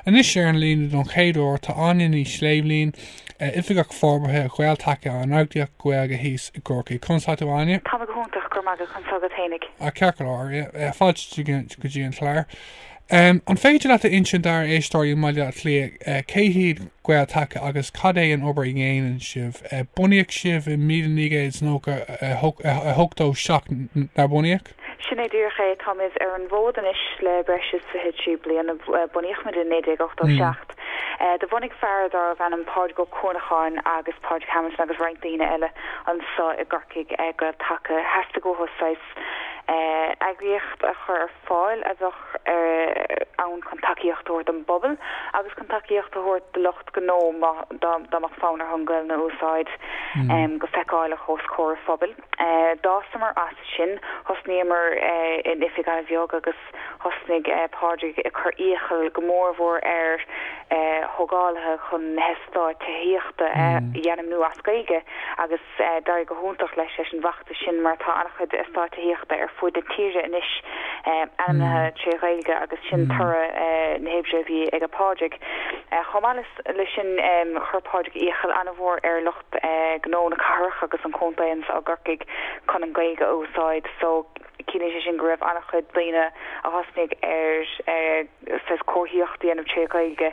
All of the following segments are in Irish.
Anois ar an líne don chéad uair tá Áine Ní Shléibhlín, Oifigeach Forbartha Ghael-Taca an eagraíocht Gaeilge thíos i gCorcaigh. Conas atá tú Áine? Tá mé go hiontach, go raibh maith agat, conas atá tú féinig? Ah, ceart go leor. Fáilte go dtí an chlár. An féidir leat a insint dár éisteoirí i mBaile Átha Cliath cé hiad Gael-Taca agus cad é an obair a dhéanann sibh? Bunaíodh sibh i míle naoi gcéad is nócha a hochtó seacht, nár bunaíodh? Sin é díreach é. Táimid ar an bhfód anois le breis is 23 bliana, bunaíodh muid i 1987. Do bhunaigh fear dárbh ainm Pádraig Ó Cuanacháin agus Pádraig Hamilton agus roinnt daoine eile anso i gCorcaigh Gael-Taca. Theastaigh uathu saghas eagraíocht a chur ar fáil a bheadh ann chun tacaíocht a thabhairt don bpobal agus chun tacaíocht a thabhairt do lucht gnó dá mbeadh fonn orthu an Ghaelainn a úsáid go feiceáileach os comhair an phobail. D'fhásamar as sin, thosnaíomar in oifig an-bheag agus thosnaigh Pádraig ag cur iachall go mór mhór ar thógálaithe chun na heastáit tithíochta a ainmniú as Gaeilge agus d'éirigh go hiontach leis leis an bhfeachtas sin mar tá an-chuid eastáit tithíochta ar fud na tíre anois ainmnithe tré Ghaeilge agus sin toradh na hoibre a bhí ag Pádraig. Chomh maith le sin chuir Pádraig iachall an-mhór ar lucht. gnó na cathrach agus an chontae anso i gCorcaigh chun an Ghaeilge a úsáid so ciallaíonn sé sin go raibh an-chuid daoine a thosnaigh ar saghas comharthaíocht a dhéanamh tré Ghaeilge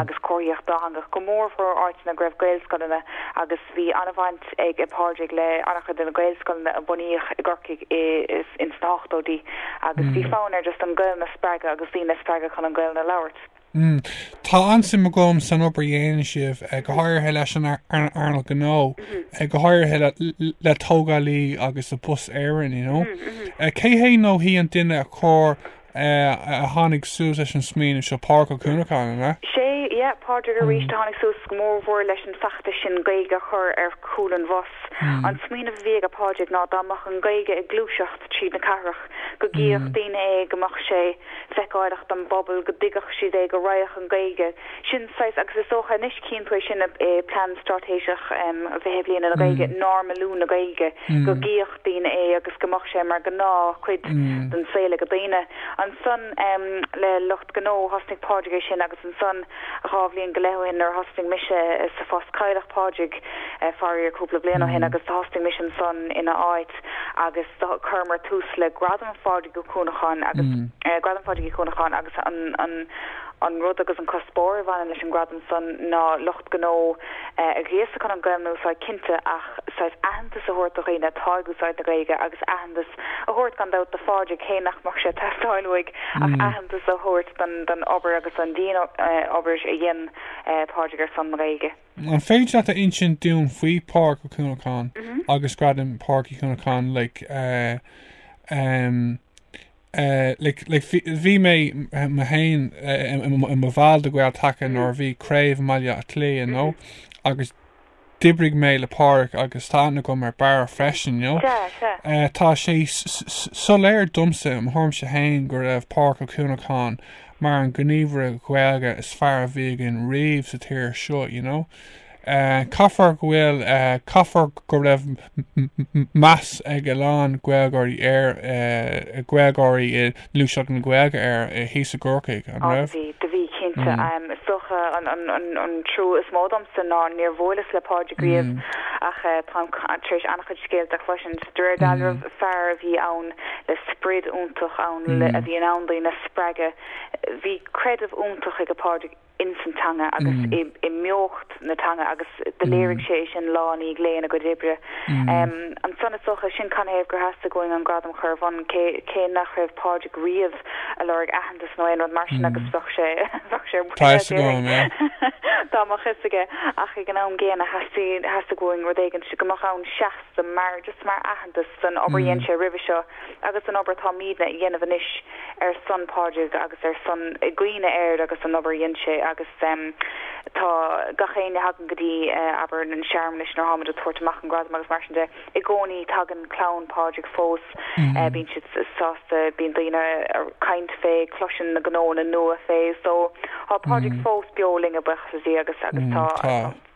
agus comharthaíocht dátheangach go mórmhór áiteanna go raibh Gaelscoileanna agus bhí an-bhaint ag Pádraig le an-chuid de na Gaelscoileanna a bunaíodh i gCorcaigh ins na hochtóidí agus bhí fonn air just an Ghaelainn a spreagadh agus daoine a spreagadh chun an Ghaelainn a labhairt. M, Tá an-suim agam san obair a dhéanann sibh, go háirithe leis an earnáil ghnó, go háirithe le tógálaithe agus le Bus Éireann, you know. Cé hé nó hí an duine a chur, a tháinig suas leis an smaoineamh seo, Pádraig Ó Cuanacháin, an ea? Sé, yeah, Pádraig arís a tháinig suas go mór mhór leis an feachtas sin Gaeilge a chur ar chúl an bhus. An smaoineamh a bhí aige Pádraig ná dá mbeadh an Ghaeilge ag gluaiseacht tríd na cathrach go gcífeadh daoine é, go mbeadh sé, feiceálach don bpobal, go dtuigfeadh siad é, go raghadh an Gaeilge, sin saghas, agus is dócha anois cíonn tú é sin i plean straitéiseach an fiche bliana na Gaeilge, normalú na Gaeilge, go gcífeadh daoine é agus go mbeadh sé mar gnáth chuid den saol ag daoine. Ansan le lucht gnó, thosnaigh Pádraig é sin agus ansan dhá bhliain go leith ó shin nuair a thosnaigh mise sa phost cailleadh Pádraig faraor cúpla bliain ó shin agus thosnaigh mise ansan ina áit agus Chuireamar tús le Gradam Phádraig Uí Chuanacháin agus Gradam Phádraig Uí Chuanacháin agus an rud agus an cuspóir a bhaineann leis an gradam san ná lucht gnó a ghríosadh chun an Ghaeilge a úsáid cinnte ach saghas aitheantas a thabhairt do dhaoine atá ag úsáid na Gaeilge agus aitheantas a thabhairt gan dabht do Phádraig cé nach mbeadh sé ag teastáil uaidh ach aitheantas a thabhairt don obair agus don dian obair a dhein Pádraig ar son na Gaeilge. An féidir leat a insint dúinn faoi Pádraig Ó Cuanacháin agus Gradam Pádraig Uí Chuanacháin like ehm eh like like bhí bhí mé mé féin i mo bhall de Ghael Taca nuair a bhí craobh i mBaile Átha Cliath you know agus d'oibrigh mé le Pádraig agus tá aithne agam ar Barra freisin you know eh tá sé soiléir domsa mo thuairimse féin go raibh Pádraig Ó Cuanacháin mar an gníomhaire Gaeilge is fearr a bhí againn riamh sa tír seo you know caithfear go bhfuil caithfear go raibh meas ag a lán Gaeilgeoirí air Gaeilgeoirí i ngluaiseacht na Gaeilge air thíos i gCorcaigh an raibh? Ó do bhí do bhí cinnte. Is dócha an an an an trua is mó domsa ná níor bhuaileas le Pádraig riamh ach táim tar éis an-chuid scéalta a chloisint. De réir dealraimh fear a bhí ann le sprid iontach ann a bhí in ann daoine a spreagadh. Bhí creideamh iontach ag a Pádraig ins an teanga agus i mbeocht na teanga agus do léirigh sé é sin lá i ndiaidh lae ina chuid oibre. So is dócha sin canathaobh gur theastaigh uainn an gradam a chur ar bun cé cé nach raibh Pádraig riamh ag lorg aitheantas nó aon rud mar sin agus bheadh sé bheadh sé ar buile Tá sé agam, é. Tá an-mhíshocair ach ag an am gcéanna theastaigh theastaigh uainn rud éigin go mbeadh ann seas sa mar just mar aitheantas don obair a dhein sé roimhe seo agus don obair atáimidne a dhéanamh anois ar son Pádraig agus ar son i gcuimhne air agus an obair a dhein sé agus em tá gach éinne a thagann go dtí eh abair an searmanas nuair tháimid ag tabhairt amach an gradam agus mar sin de i gcónaí tagann clann Pádraig fós eh bíonn siad sásta bíonn daoine a' caint fé cloiseann na gnóanna nua fé so tá Pádraig fós beo linn buíochas le Dia agus agus tá tá.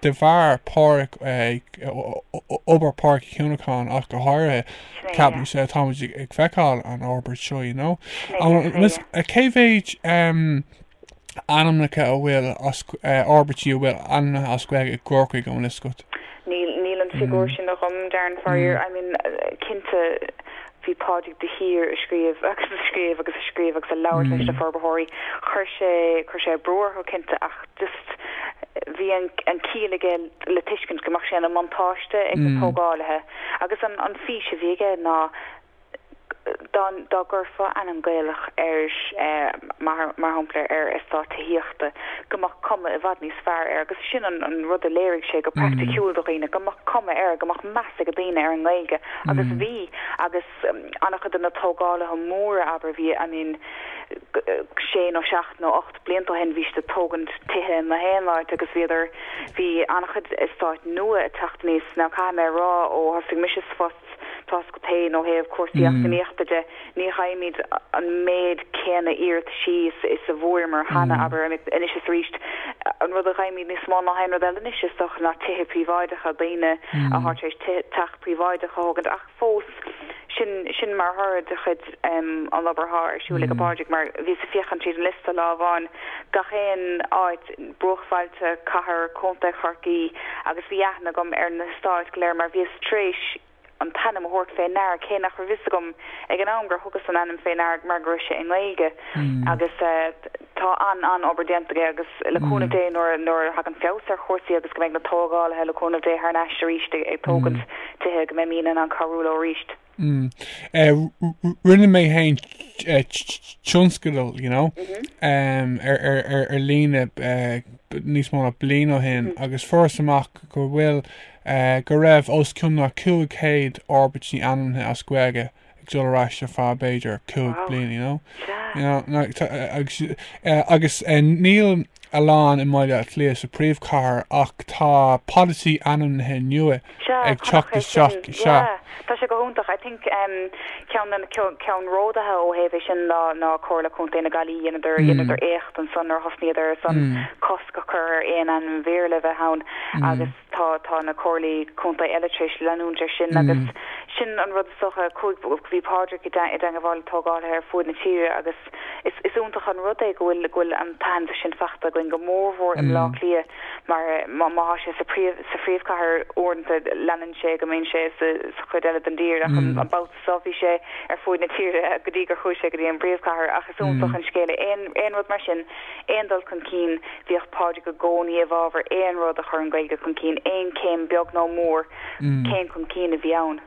de bharr Pádraig obair Pádraig Ó Cuanacháin ach go háirithe Sin é, yeah. ceapaimse táimid ag feiceáil an fhorbairt seo you know Sin é, sin é, yeah. cé mhéid ainmneacha a bhfuil forbairtí a bhfuil ainmnithe as Gaeilge i gCorcaigh an bhfuil fhios agat? Níl, níl an figiúr sin agam Darren faraor, I mean cinnte, Bhí Pádraig de shíor ag scríobh agus ag scríobh agus ag scríobh agus ag labhairt leis na forbarthóirí. Chuir sé chuir sé brú orthu cinnte ach just bhí an an ciall aige le tuiscint go mbeadh sé ina bhuntáiste ag na tógálaithe agus an an fís a bhí aige ná dá dá gcuirfeá ainm Gaelach ar mar mar shampla ar ar eastát tithíochta go mbeadh cuma i bhfad níos fearr air agus sin an an rud a léirigh sé go praiticiúil do dhaoine go mbeadh cuma air go mbeadh meas ag daoine ar an nGaeilge Agus bhí, agus an-chuid de na tógálaithe móra, abair, bhí, I mean, sé nó seacht nó ocht blianta ó shin bhí siad ag tógaint tithe in aon áit agus bhíodar, bhí an-chuid eastáit nua ag teacht aníos. Now caithfidh mé a rá, ó thosaigh mise sa phost, toisc go, tá, ó thaobh cúrsaí eacnamaíochta de, ní fhaighimid an méid céanna iarratais is a bhfuaireamar cheana, abair, anois is arís, an rud a fhaighimid níos mó ná aon rud eile anois is dócha ná tithe príobháideacha, daoine atá tar éis teach. príobháideach a thógaint ach fós sin sin mar thoradh de chuid den obair athá ar siúl ag Pádraig mar bhíos ag féachaint tríd an liosta lá amháin gach aon áit bruachbhailte, cathair, contae Chorcaí agus bhí aithne agam ar na heastáit go léir mar bhíos tréis an t-ainm a thabhairt féin orthu cé nach raibh fhios agam ag an am gur thugas an ainm féin orthu mar go raibh sé i nGaeilge agus tá an-obair déanta aige agus le cúnamh Dé nuair a thagann feabhas ar chúrsaí agus go mbeidh na tógálaithe le cúnamh Dé thar n-ais arís ag tógaint tithe go mbeidh mé in ann cabhrú leo arís. Rinne mé fhéin tionscadal you know mm-hmm. ar ar ar ar líne eh, níos mó ná bliain ó shin mm-hmm. agus fuaireas amach go bhfuil go raibh os cionn na 500 forbairtí ainmnithe as Gaeilge ag dul ar ais ar feadh b'fhéidir 5 bliana, you know. Agus níl a lán i mBaile Átha Cliath sa príomhchathair ach tá polasaí ainmnithe nua ag teacht isteach is ea. Tá sé go hiontach. I think ceannródaithe ó thaobh é sin ná Comhairle Contae na Gaillimhe. Dheineadar éacht ansan nuair a thosnaíodar ansan cosc a chur ar aon ainm Bhéarla a bheith ann agus Tá, tá na comhairlí contae eile tar éis leanúint ar sin agus sin an rud is dócha, go, bhí Pádraic i dteangabháil le tógálaithe ar fuaid na tíre agus is, is iontach an rud é go bhfuil, go bhfuil an t-aitheantas sin fachta againn go mór mhór i mBleá Cliath mar má, má thá sé sa phríomh, sa phríomhchathair uaireanta leanann sé go mbíonn sé sa, sa chuid eile den dtír ach an, an babhta. so bhí sé ar fuaid na tíre go dtí gur chuaigh sé go dtí an bpríomhchathair ach is iontach an scéal é aon aon rud mar sin aon dul chun cinn bhíodh Pádraig i gcónaí i bhfabhar aon rud a chur an Ghaeilge chun cinn aon chéim beag nó mór céim chun cinn a bhí ann.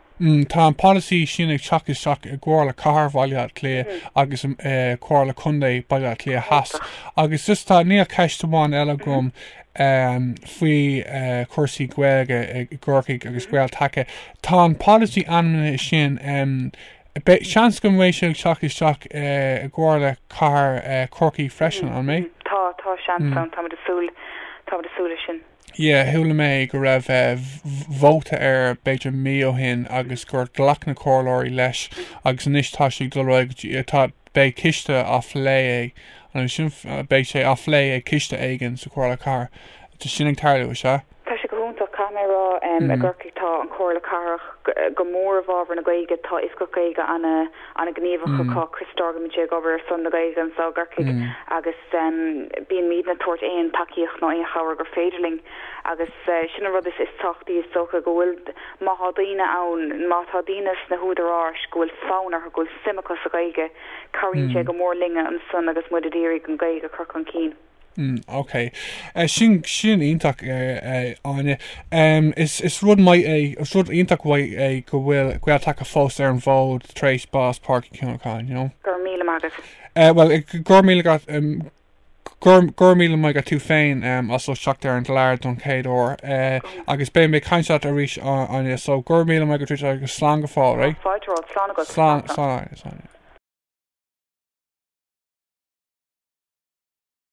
Tá an polasaí sin ag teacht isteach i gComhairle Cathair Bhaile Átha Cliath agus Comhairle Contae Baile Átha Cliath Theas agus just tá níl ceist amháin eile agam faoi chúrsaí Gaeilge i gCorcaigh agus Gael-Taca. Tá an polasaí ainmnithe sin. Seans go mbeidh siad ag teacht isteach i gComhairle Chathair Chorcaí freisin, an mbeidh? Tá, tá seans ann. Tá súil, tá súil leis sin. Yeah, chuala mé go raibh vóta air b'fhéidir mí ó shin agus gur ghlac na comhairleoirí leis agus anois tá sé ag dul, tá, beidh ciste á phlé ag an beidh sé á phlé ag ciste éigin sa Chomhairle Cathrach. Tá sin ag tarlú, is ea? Tá sé go hiontach, caithfidh mé a rá. I gCorcaigh tá an Chomhairle Cathrach go mór i bhfabhar na Gaeilge. Tá Oifigeach Gaeilge an-ghníomhach acu, Chris Dorgan, bíonn sé ag obair ar son na Gaeilge anseo i gCorcaigh agus bíonn muidne ag tabhairt aon tacaíocht nó aon chabhair gur féidir linn agus sin an rud is tábhachtaí is dócha go bhfuil Má tá daoine ann, má tá daoine sna húdaráis go bhfuil fonn orthu, go bhfuil suim acu sa Ghaeilge, cabhraíonn sé go mór linne ansan agus muid ag iarraidh an Ghaeilge a chur chun cinn. Ok. Sin sin iontach, a Áine. Um, is, is rud maith é is rud iontach maith é go bhfuil Gael-Taca fós ar an bhfód tar éis bás Phádraig Uí Chuanacháin, you know? Go raibh míle maith agat. Uh, well, go raibh míle agat um, Go raibh míle maith agat tú féin as ucht teacht ar an gclár don chéad uair agus beidh mé ag caint leat arís, Áine, so go raibh míle maith agat agus slán go fóill, right? Fáilte romhat, slán agat, slán, slán, slán.